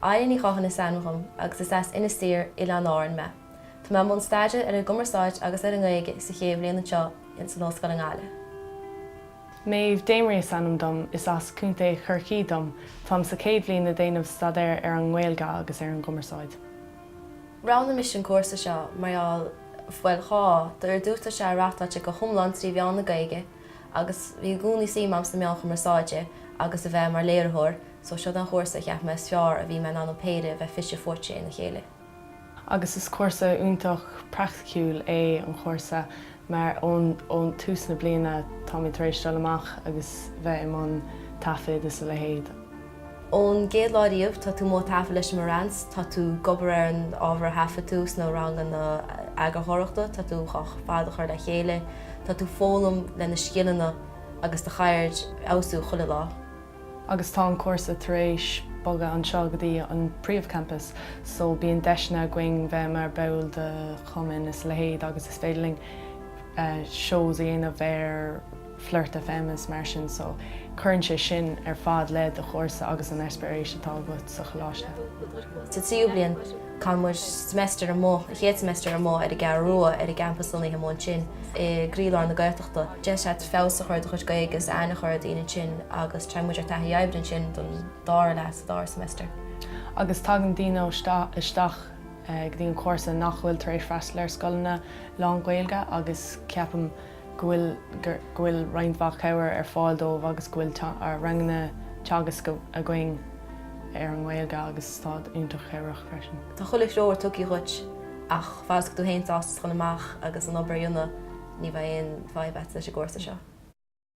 Áine Ní Chatháin is ainm dhom agus is as Inis Oírr, Oileáin Árann mé. Tá mé i mbun staidéir ar an gCumarsáid agus ar an nGaeilge sa chéad bhliain anseo in san Ollscoil i nGaillimh. Meadhbh Damery is ainm dom, is as Contae Chorcaí dom, táim sa chéad bhliain ag déanamh staidéir ar an nGaeilge agus ar an gCumarsáid. Roghnaigh mise an cúrsa seo mar gheall, bhuel dhá, do ar dtús tá sé reáchtáilte go hiomlán trí mheán na Gaeilge agus bhí i gcónaí suim agam sna meáin chumarsáide agus a bheith mar léiritheoir, So seo an chúrsa a cheap mé is fearr a bhí mé in ann an péire a bheith fite fuaite ina chéile. Agus is cúrsa iontach praiticiúil é an chúrsa mar ón tús na bliana táimid tar éis dul amach agus bheith i mbun taifid is a leithéid. Ón gcéad lá riamh tá tú amuigh ag taifead leis an Marantz, tá tú ag obair ar an ábhar a thaifead tú sna ranganna eagarthóireachta, tá tú ar fad á chur le chéile, tá tú ag foghlaim le na scileanna agus do cheird a fheabhsú chuile lá. agus tá an cúrsa tar éis bogadh anseo go dtí an príomhchampas so bíonn deiseanna againn bheith mar ball de chumainn is a leithéid agus is féidir linn shows a dhéanamh ar Flirt FM is mar sin so cuireann sé sin ar fad le do chúrsa agus an eispéireas atá agat sa choláiste. Sa tríú bliain, Caitheann muid seimeastar amuigh, an chéad seimeastar amuigh ar an gCeathrú Rua ar an gcampas lonnaithe amuigh ansin i gcroílár na Gaeltachta. Deis agat feabhas a chur ar do chuid Gaeilge agus aithne a chur ar dhaoine ansin agus téann muid ar taithí oibre ansin don dara leath sa dara seimeastar. Agus tagann daoine isteach go dtí an cúrsa nach bhfuil tar éis freastal ar scoileanna lán-Ghaeilge agus ceapaim, go bhfuil go bhfuil roinnt mhaith cabhair ar fáil dóibh agus go bhfuil ranganna teagasc againn ar an nGaeilge agus táid iontach cabhrach freisin. Tá chuile threoir tugtha dhuit ach fad is go bhfuil tú féin sásta dhul amach agus an obair a dhéanamh ní bheidh aon fadhb agat leis an gcúrsa seo.